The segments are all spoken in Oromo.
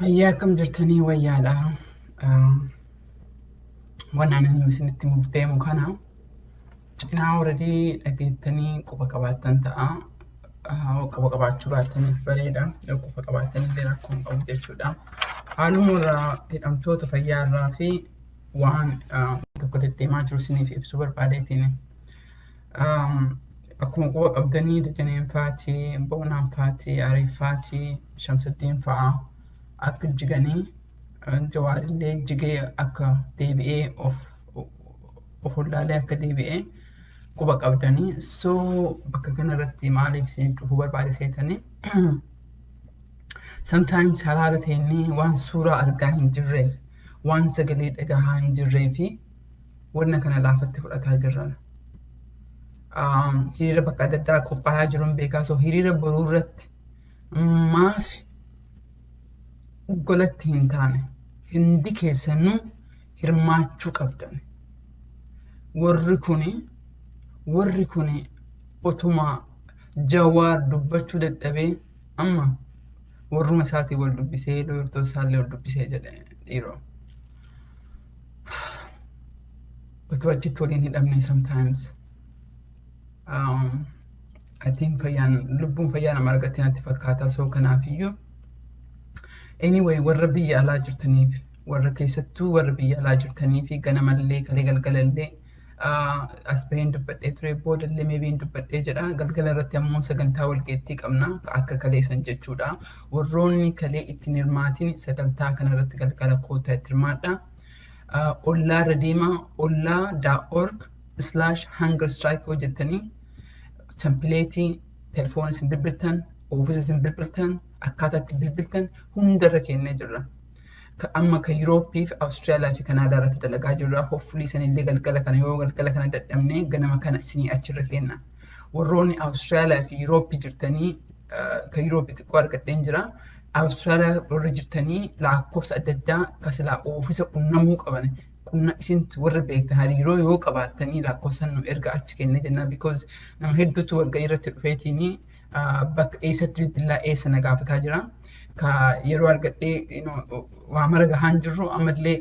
Hayyaa akkam jirtanii wayyaadha. Waan ani isinitti muuf deemu kana cinaa horadii dhageettanii quba qabaattan ta'a. Quba qabaachuu baattaniif bareeda. Yoo quba qabaattan illee rakkoo hin qabu jechuudha. Haaluma irraa hidhamtoota fayyaa irraa fi waan tokko deddeemaa jiru isiniif ibsuu barbaadeetiin. Akkuma quba qabdanii Dajaneen faati, Boonaan faati, Aree faati, Shamsaddiin fa'a akka jiganii Jawaarillee jigee akka deebi'ee of of wallaalee akka deebi'ee quba qabdanii. So bakka kanarratti maaliif isiniif dhufuu barbaade seetanii? Sometimes halaala ta'inni waan suuraa argaa hin jirreef, waan sagalee dhagahaa hin jirree fi wanna kana laafatti fudhataa jirran. Hiriira bakka adda addaa qophaa'aa jiruun beekaa soo hiriira boruu irratti maaf golatti hin taane hundi keessanuu hirmaachuu qabdan. Warri kuni warri kuni otuma jawaar dubbachuu dadhabee amma warruma isaatiin wal dubbisee loltoota isaallee wal dubbisee jedhe dhiiroo. utuu achitti waliin hidhamne sometimes um, I think fayyaan lubbuun fayyaa nama argattee natti fakkaataa soo kanaafiyyuu anyway warra biyya alaa jirtaniif warra keessattuu warra biyya alaa jirtanii fi ganamallee kalee galgalallee as baheen dubbadhee ture booda illee meebiin dubbadhee jedha galgala irratti ammoo sagantaa walgeettii qabna akka kalee san jechuudha warroonni kalee ittiin hirmaatiin sagantaa kana irratti galgala kootaa itti hirmaadha ollaa irra deemaa ollaa daa org slash hunger strike hojjettanii tempileetii telefoon isin bilbiltan oofisa isin bilbiltan akkaataa itti bilbiltan hundarra kennee jirra. Ka amma ka Yurooppii fi Awustiraaliyaa fi Kanaadaa irratti dalagaa jirra. Hoffulii sanillee galgala kana yoo galgala kana dadhabnee ganama kana isinii achirra keenna. Warroonni Awustiraaliyaa fi Yurooppii jirtanii ka Yurooppii xiqqoo argadheen jira. Awustiraaliyaa warri jirtanii lakkoofsa adda addaa ka silaa oofisa qunnamuu qaban qunna isintu warri beektan hariiroo yoo qabaattanii lakkoofsa nu erga achi kennee jennaa because nama hedduutu walga'ii irratti dhufeetiinii bakka eessatti bilbilaa eessa na gaafataa jira. Ka yeroo argadhee waa mara gahaan jirru ammallee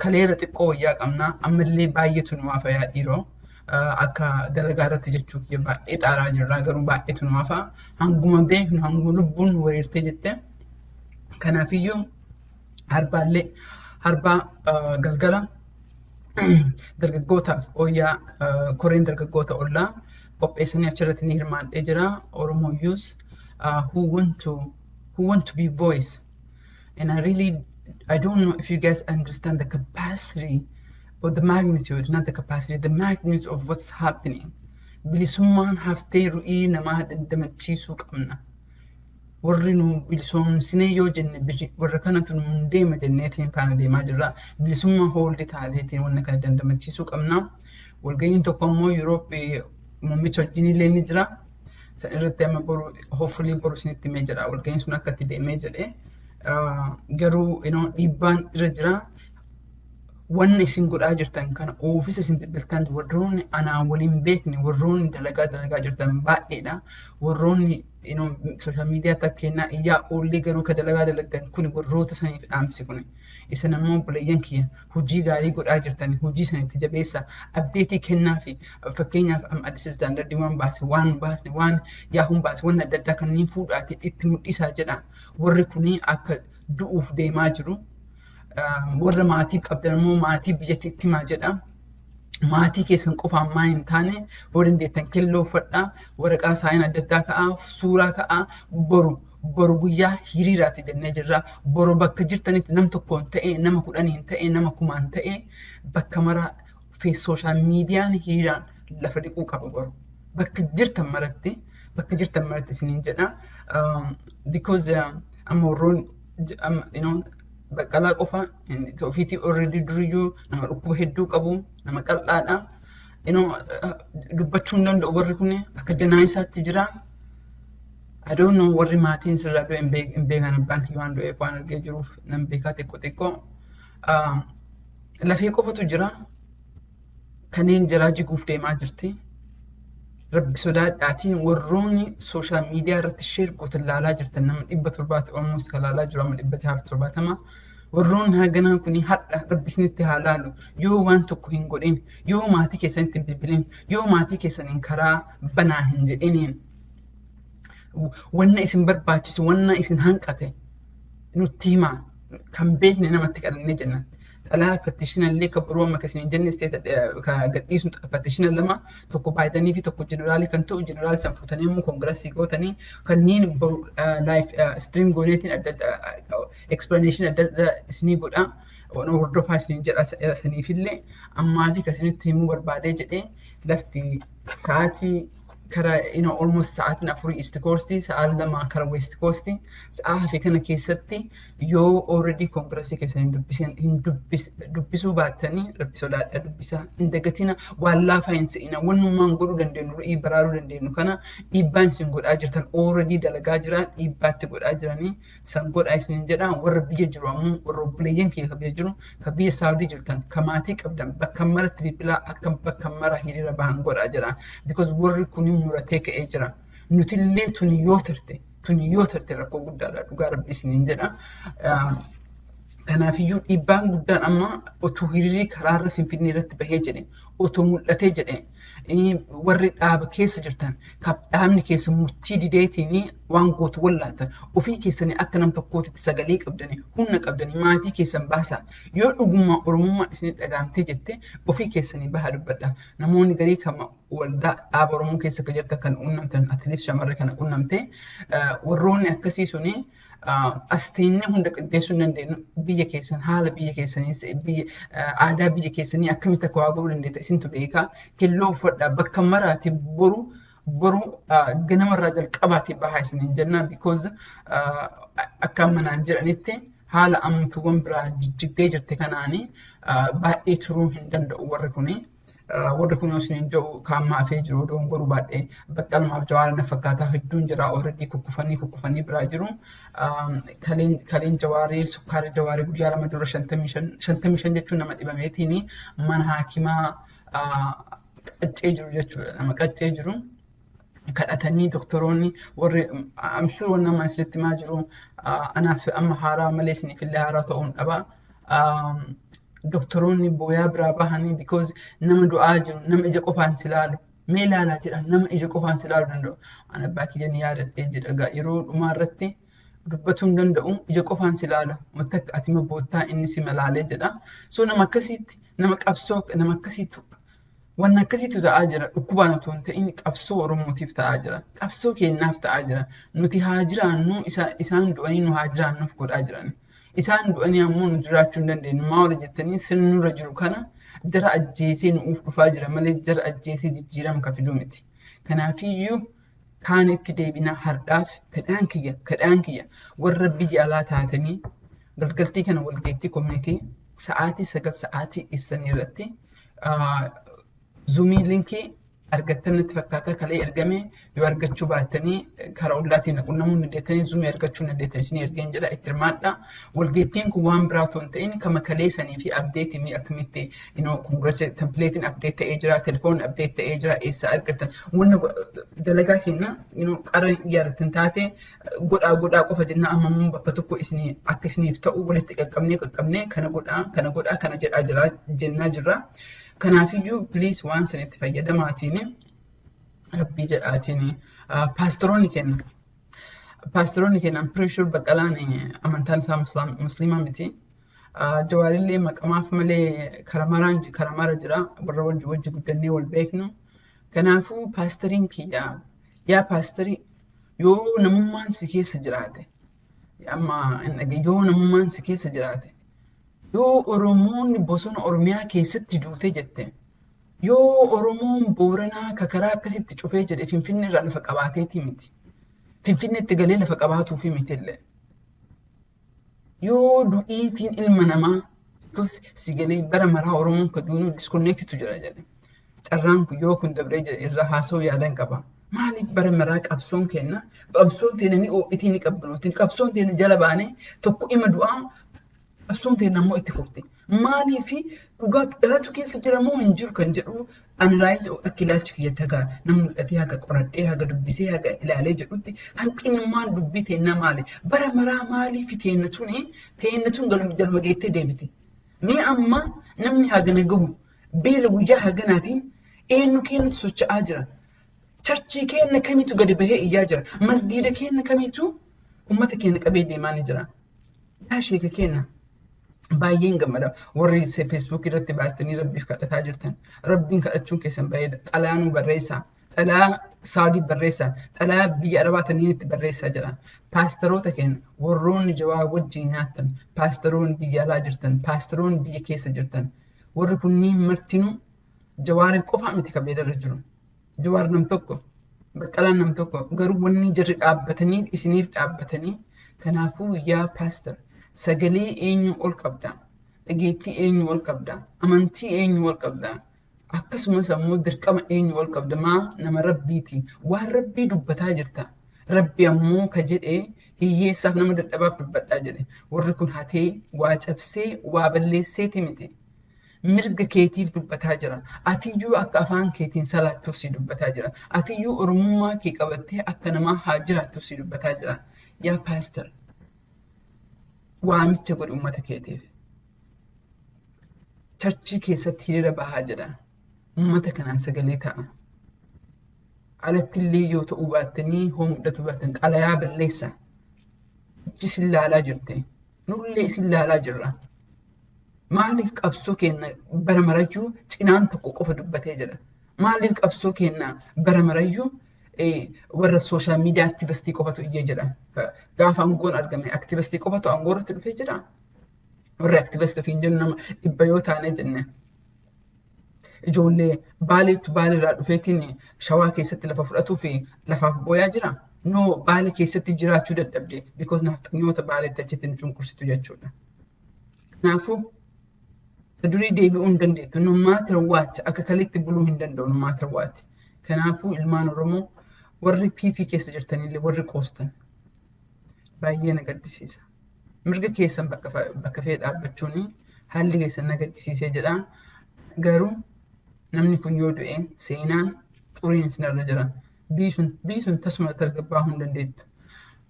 kaleera xiqqoo wayyaa qabna ammallee baay'eetu nu hafa yaa dhiiroo. Akka dalagaa irratti jechuuf baay'ee xaaraa jirra garuu baay'eetu nu hafa hanguma beeknu hanguma lubbuun nu wareertee jette. Kanaafiyyuu harbaallee harbaa galgala dargaggootaaf ooyyaa koreen dargaggoota ollaa qopheessanii achirratti ni hirmaadhee jira oromoo yuus who want to who want to be voice and I really I don't know if you guys understand the capacity or the magnitude not the capacity the magnitude of what's happening bilisummaan haftee ru'ii namaa dandamachiisuu qabna. warri nu bilisoomsinee yoo jenne biri warra kanatu nu deema jenneetiin faana deemaa jirra. Bilisummaa hooldi taateetiin wanna kana dandamachiisuu qabna. Walga'iin tokko ammoo Yuurooppi muummicha wajjin illee ni jira. San irratti amma boru hoofuliin boru isinitti himee jira. Walga'iin sun akka itti deemee jedhee. Garuu dhiibbaan irra jira. Wanna isin godhaa jirtan kana oofisa isin bilbiltan warroonni anaa waliin beekne warroonni dalagaa dalagaa jirtan baay'eedha. Warroonni inuu social media akka kennaa iyyaa oollee garuu ka dalagaa dalagdan kun warroota saniif dhaamsi kun isin ammoo obboleeyyan kiyya hojii gaarii godhaa jirtan hojii sanitti jabeessa abdeetii kennaa fi fakkeenyaaf am addis istaandardii waan baase waan baasne waan yaahuun baase waan adda addaa kanneen fuudhaati itti mul'isaa jedha warri kunii akka du'uuf deemaa jiru warra maatii qabdan ammoo maatii biyyatti itti himaa jedha maatii keessan qofaan maa hin taane yoo dandeettan kelloo uffadhaa waraqaa saayina adda addaa ka'aa suuraa ka'aa boru boru guyyaa hiriiraatti jennee jirra boru bakka jirtanitti nam tokkoon ta'ee nama kudhaniin ta'ee nama kumaan ta'ee bakka maraa sooshaal miidiyaan hiriiraan lafa dhiquu qaba boru bakka jirtan maratti bakka jirtan maratti isiniin jedha because amma warroon you know Baqqalaa qofa ofiitii already duriyyuu nama dhukkuba hedduu qabu nama qal'aadha. Inoo dubbachuu hin danda'u warri kun akka janaa isaatti jira. I don't know warri maatiin sirraa du'e hin beek- hin beekan abbaan kiyya waan du'eef waan argee jiruuf nan beekaa xiqqoo xiqqoo. Ah, Lafee qofatu jira. kanneen jiraa jiguuf deemaa jirti. Rabbi sodaadhaatiin warroonni sooshaal miidiyaa irratti sheer gootan laalaa jirtan nama dhibba torbaatti olmoos kan laalaa jiru amma dhibba jahaaf torbaatama. Warroonni haganaa kun hadha rabbi isinitti haa laalu yoo waan tokko hin godhin yoo maatii keessanitti hin bilbilin yoo maatii keessaniin karaa banaa hin jedhiniin wanna isin barbaachisu wanna isin hanqate nutti himaa kan beekne namatti kadhannee jenna. Dhalaa petitioner illee kan biroo amma akkasiin jenne state gadhiisu petitioner lama tokko baay'atanii fi tokko jeneraalii kan ta'u jeneraalii san fuutanii immoo koongirasii gootanii kanneen boru live stream gooneetiin adda adda explanation adda adda isinii godha. Ono hordofaa isiniin jedha saniifillee ammaa fi kasinitti himuu barbaadee jedhee lafti sa'aatii kara you know, almost sa'aatiin afurii east coast sa'aa lama kara west coast sa'aa hafe kana keessatti yoo already kongrasii keessan hin dubbisin hin dubbis dubbisuu baattanii rabbi sodaadha dubbisaa hin dagatina waan laafaa hin se'ina wannummaan godhuu dandeenyu ru'ii baraaruu dandeenyu kana dhiibbaan isin godhaa jirtan already dalagaa jiraan dhiibbaatti godhaa jiranii san godhaa isiniin jedhaa warra biyya jiru ammoo warra obboleeyyan kiyya ka biyya jiru ka biyya saawudii jirtan ka maatii qabdan bakka maratti bilbilaa akka bakka mara hiriira bahan godhaa jedha because warri kun muratee ka'ee jira nutillee tuni yoo tarte tuni yoo tarte rakkoo guddaadha dhugaa rabbi isiniin jedha kanaafiyyuu dhiibbaan guddaan amma otuu hiriirii karaarra finfinnee irratti bahee jedhe otuu mul'atee jedhe warri dhaaba keessa jirtan kan dhaabni keessa murtii dideetiin waan gootu wallaatan ofii keessanii akka nam tokkootitti sagalee qabdanii humna qabdanii maatii keessan baasaa yoo dhugummaa oromummaa isin dhagaamtee jette ofii keessanii bahaa dubbadha namoonni garii kan waldaa dhaaba oromoo keessa kan jirtan kan qunnamtan atileet shamarree kana qunnamte warroonni akkasii suni Asteenya hunda qindeessuu hin dandeenyu. Biyya keessan haala biyya keessaniis aadaa biyya keessanii akkamitti akka waa godhuu dandeetta isintu beeka. Kelloo uffadhaa bakka maraati boru boru ganamarraa jalqabaati bahaa isiniin jenna because akka amma naan jedhanitti haala amtuuwwan biraa jijjiggee jirte kanaanii baay'ee turuu hin danda'u warri kuni. warri kun yoo isiniin jedhu kaan maafee jiru odoon godhu baadhee baqqalumaaf jawaara na fakkaataa hedduun jira ooredii kukkufanii kukkufanii biraa jiru. Kaleen jawaarii sukkaara jawaarii guyyaa lama dura shantamii shan jechuun nama dhibameetiin mana haakimaa qaccee jiru jechuudha nama qaccee jiru. kadhatanii doktoroonni warri I'm sure wanni amma isinitti himaa jiru anaaf amma haaraa malee isiniif illee haaraa ta'uu hin dhabaa. Doktoroonni booyaa biraa bahanii because nama du'aa jiru nama ija qofaan si laalu mee laalaa jedha nama ija qofaan si laalu danda'u. Ani abbaa kiyyanii yaadadhee jedha yeroo dhumaa irratti dubbatuu hin danda'u ija qofaan si laala wanta akka ati boottaa inni si malaalee jedha. So nama akkasiitti nama qabsoo nama akkasiitti Wanni akkasiitu ta'aa jira. Dhukkubaan otoo hin ta'in qabsoo Oromootiif ta'aa jira. Qabsoo keenyaaf ta'aa jira. Nuti haa jiraannu isaan du'anii nu haa jiraannuuf godhaa jiran. Isaan du'anii ammoo nu jiraachuu hin dandeenyu. Maa wali jettanii sirni nurra jiru kana jara ajjeesee nu'uuf dhufaa jira malee jara ajjeesee jijjiirama ka fiduu miti. Kanaafiyyuu kaan itti deebinaa hardhaaf kadhaan kiyya kadhaan kiyya warra biyya alaa taatanii galgaltii kana walgeettii komiitii sa'aatii sagal sa'aatii keessanii irratti Zuumii linkii argattan natti fakkaataa kalee ergame yoo argachuu baattanii karaa ollaatiin na qunnamuu ni dandeettanii zuumii argachuu ni dandeettan isin ergeen jedha itti hirmaadha. Walgeettiin kun waan biraa otoo hin ta'in kama kalee sanii fi abdeetiin akkamitti inoo kongirasii tempileetiin abdeet ta'ee jira telefoonni abdeet ta'ee jira eessaa argattan wanna dalagaa keenya inoo qara yaadattan taate godhaa godhaa qofa jennaa amma immoo bakka tokko isin akka isiniif ta'u walitti qaqqabnee qaqqabnee kana godhaa kana godhaa kana jedhaa jira jennaa jirra. Kanaafiyyuu please waan sanitti fayyadamaatiin rabbii jedhaatiin paastaroonni kenna. Paastaroonni kenna Ampireeshuur Baqqalaan amantaan isaa musliimaa miti. Jawaarillee maqamaaf malee karamaraan karamara jira warra wajji wajji guddannee wal beeknu. Kanaafuu paastariin kiyya yaa paastarii Yoo namummaan si keessa jiraate, amma hin dhage- yoo namummaan si keessa jiraate, yoo Oromoonni bosona Oromiyaa keessatti duute jette, yoo Oromoon Booranaa ka karaa akkasitti cufee jedhe Finfinnee irraa lafa qabaateeti miti. Finfinneetti galee lafa qabaatuufi mitillee. yoo du'iitiin ilma namaa tus si galee bara maraa Oromoon ka duunuu diskonneektitu jira jedhe. Carraan kun yoo kun dabree jedhe irraa haasoo yaadan qaba. Maaliif bara maraa qabsoon keenna qabsoon teena ni oo'itii ni qabbanootiin qabsoon teena jala baanee tokko ima du'aa qabsoon teena ammoo itti fufti. Maalii fi dhugaa dhalatu keessa jira moo hin jiru kan jedhu analaayizi akka ilaalchi kiyya tagaa na mul'atee haga qoradhee haga dubbisee haga ilaalee jedhutti hanqinummaan dubbii teennaa maali? Bara maraa maalii fi teenna tuni teenna tun galma geettee deebite. Mee amma namni hagana gahu beela guyyaa haganaatiin eenyu keenyatu socho'aa jira. Charchii keenna kamitu gadi bahee iyyaa jira. Masgiida keenna kamitu uummata keenya qabee deemaa ni jira. Yaa sheeka keenya baay'een gammada warri feesbuuk irratti baastanii rabbiif kadhataa jirtan rabbiin kadhachuun keessan bareeda xalaa nu barreessaa xalaa saadii barreessaa xalaa biyya arabaa taniin itti barreessaa jedha paastaroota keenya warroonni jawaa wajjin nyaattan paastaroonni biyya alaa jirtan paastaroonni biyya keessa jirtan warri kunniin martinuu jawaariin qofaa miti kan beedarra jiru Jawaar nam tokko, Baqqalaan nam tokko garuu wanni jarri dhaabbataniif isiniif dhaabbatanii kanaafuu yaa paastar sagalee eenyu ol qabda? Dhageettii eenyu ol qabda? Amantii eenyu ol qabda? Akkasumas ammoo dirqama eenyu ol qabda? Maa nama rabbiiti waan rabbii dubbataa jirta. Rabbi ammoo ka jedhe hiyyeessaaf nama dadhabaaf dubbadhaa jedhe. Warri kun hatee waa cabsee waa balleesseeti miti. Mirga keetiif dubbataa jira. Atiyyuu akka afaan keetiin salaattuuf si dubbataa jira. Atiyyuu Oromummaa kee qabattee akka namaa haa jiraattuuf si dubbataa jira. Yaa paastar waamicha godhi uummata keetiif. Charchii keessatti hiriira bahaa jedha. Uummata kanaan sagalee ta'a. Alatti illee yoo ta'uu baattanii hoo mul'atu baatan xalayaa barreessa. Ijji isin laalaa jirti. Nullee isin laalaa jirra. Maaliif qabsoo keenna bara marayyuu cinaan tokko qofa dubbatee jedha? Maaliif qabsoo keenna bara marayyuu warra sooshaal miidiyaa aktivistii qofatu iyyee jedha? Gaafa aangoon argame aktivistii qofatu aangoo irratti dhufee jira? Warri aktivistii ofiin jennu nama dhibba yoo taanee jenne ijoollee baaleetu baalirraa dhufeetiin shawaa keessatti lafa fudhatuu fi lafaaf booyaa jira. No baale keessatti jiraachuu dadhabde because nafxanyoota baaleetti achitti nu cunqursitu jechuudha. Kanaafuu durii deebi'uu hin dandeettu. No matter what akka kaletti buluu hin danda'u no matter what. Kanaafuu ilmaan Oromoo warri PP keessa jirtanillee warri qoostan baay'ee na gaddisiisa. Mirga keessan bakka fa- bakka fee dhaabbachuun haalli keessan na gaddisiisee jedha. Garuu namni kun yoo du'e seenaan xuriin isinirra jira. biisuun biisuun tasuma tasgabbaa'uu hin dandeettu.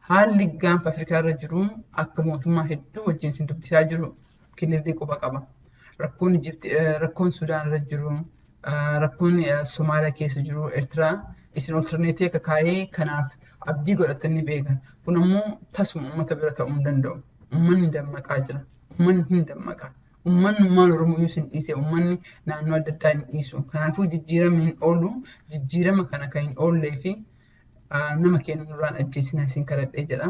Haalli gaanfa Afrikaa irra jiru akka mootummaa hedduu wajjin isin dubbisaa jiru kilirrii quba qaba. Rakkoon Ijipti, rakkoon Sudaan irra jiru, rakkoon Somaaliyaa keessa jiru, Eertiraa isin olterneetii akka kaa'ee kanaaf abdii godhatanii beeka. Kun ammoo tasuma uummata bira ta'uu hin danda'u. Uummanni dammaqaa jira. Uummanni hin dammaqa. Uummanni ummaan Oromoo yoo isin dhiise uummanni naannoo adda addaa hin dhiisu. Kanaafuu jijjiirama hin oolu. Jijjiirama kana kan hin oollee fi nama keenya nurraan ajjeesina isin kadhadhee jedha.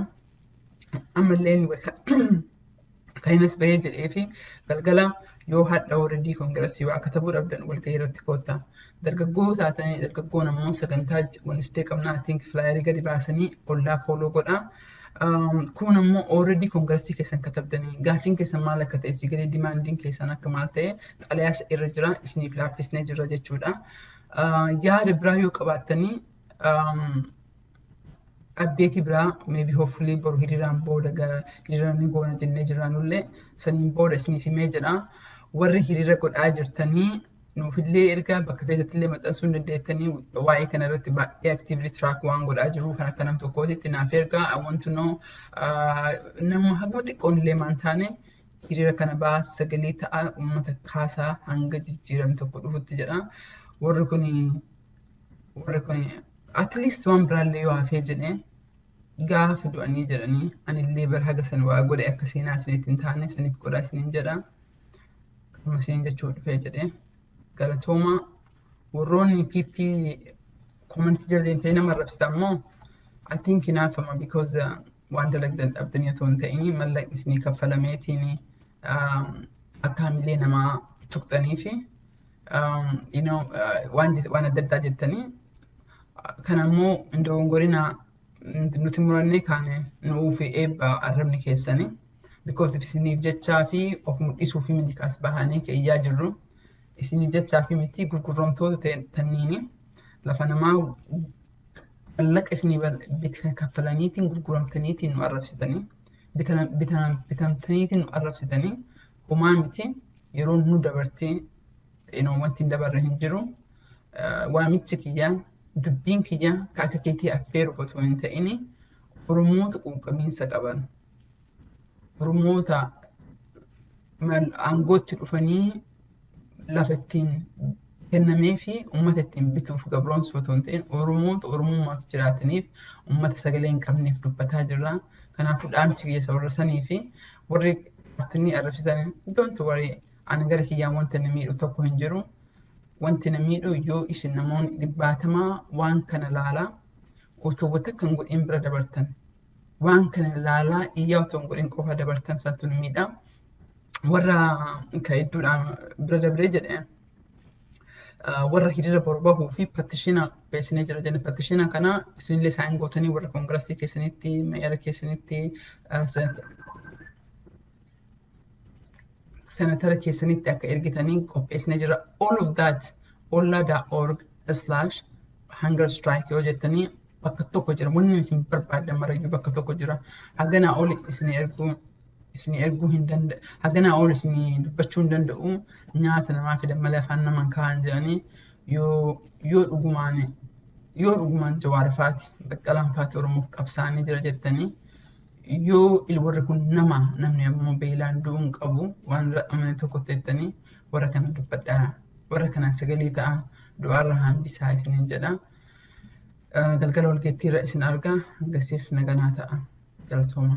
Ammallee kan innis bahee jedhee fi galgala yoo hadha oredii kongiresii waa katabuu dhabdan walgahii irratti koottaa. Dargaggoo taatanii dargaggoon ammoo sagantaa Wednesday qabnaa atiink filaayerii gadi baasanii ollaa fooloo godhaa. Kun ammoo already kongiresii keessan katabdanii gaaffiin keessan maal akka ta'e si galee dimaandiin keessan akka maal ta'e xalayaa isa irra jira isiniif laaffisnee jirra jechuudha. Yaada biraa yoo qabaattanii abdeetii biraa maybe hopefully boru hiriiraan booda hiriiraan ni goona jennee jirraanullee saniin booda isiniif himee jedha. Warri hiriira godhaa jirtanii nuufillee ergaa bakka feetattillee maxxansuu hin dandeettanii waa'ee kana irratti baay'ee aktiivli tiraak waan godhaa jiru kan akka nam tokkootitti naaf ergaa I want to know nama haguma xiqqoon illee maan taane hiriira kana baa sagalee ta'a uummata kaasaa hanga jijjiiramni tokko dhufutti jedha warri kun warri kun at least waan biraallee yoo hafee jedhee gaafa du'anii jedhanii anillee bara haga san waa godhe akka seenaa isinitti hin taane isiniif godhaa isiniin jedha. Akkuma isheen jechuu dhufee jedhee galatoomaa warroonni PP komantii jala deemtee nama arrabsitan immoo I think hinaaffama because uh, waan dalagdan dhabdanii otoo hin ta'inii mallaqni isinii kaffalameetiin um, akka hamilee namaa tuqxanii fi um, you know, uh, waan, jet- waan adda addaa jettanii kan ammoo hin dogongorinaa nuti murannee kaane nu'uuf eebba arrabni keessanii because isiniif jechaa fi of mul'isuu fi miti kaas bahanii keeyyaa jirru isiniif jechaa fi miti gurgurromtoota tanniini lafa namaa mallaqa isinii bita kaffalaniitiin gurguramtaniitiin nu arrabsitanii bitamtaniitiin nu arrabsitanii homaa miti yeroo nu dabartee Inoo wanti hin dabarre hin jiru. Waamichi kiyyaa dubbiin kiyyaa ka akka keetii affeeruuf otoo hin ta'in Oromoota quuqqamiinsa qaban Oromoota aangootti dhufanii lafa ittiin kennamee fi uummata ittiin bituuf gabroomsuu otoo hin ta'in Oromoota Oromummaaf jiraataniif uummata sagalee hin qabneef dubbataa jirra. Kanaafuu dhaamsi kiyya isa warra sanii fi warri paartinii arrabsitan don't worry Ana gara kiyyaan wanta na miidhu tokko hin jiru. Wanti na miidhu yoo isin namoonni dhibbaatamaa waan kana laalaa utuu wata kan godhin bira dabartan. Waan kana laalaa iyyaa utuu hin godhin qofa dabartan santu na miidha. Warra ka hedduudhaan bira dabree jedhee warra hiriira boru bahuu fi pattishina beeksisnee jira jenna. Pattishina kana isinillee isaan gootanii warra koongirasii keessanitti, meeyara keessanitti, senatara keessanitti akka ergitanii qopheessine jira all of that olla.org slash hunger strike yoo jettanii bakka tokko jira wanni isin barbaaddan marayyuu bakka tokko jira haganaa ol isin erguu isin erguu hin danda'u haganaa ol isin dubbachuu hin danda'u nyaata namaa fidan malee afaan namaan kaa'an jedhanii yoo yoo dhugumaan yoo dhugumaan jawaarifaati baqqalaanfaati oromoof qabsaanii jira jettanii yoo warri kun nama namni ammoo beelaan du'uun qabu waan amane tokkotti jettanii warra kana dubbadhaa warra kanaan sagalee ta'a du'aarra hambisaa isiniin jedha galgala walgeettiirra isin argaa hangasiif naganaa ta'a galatooma.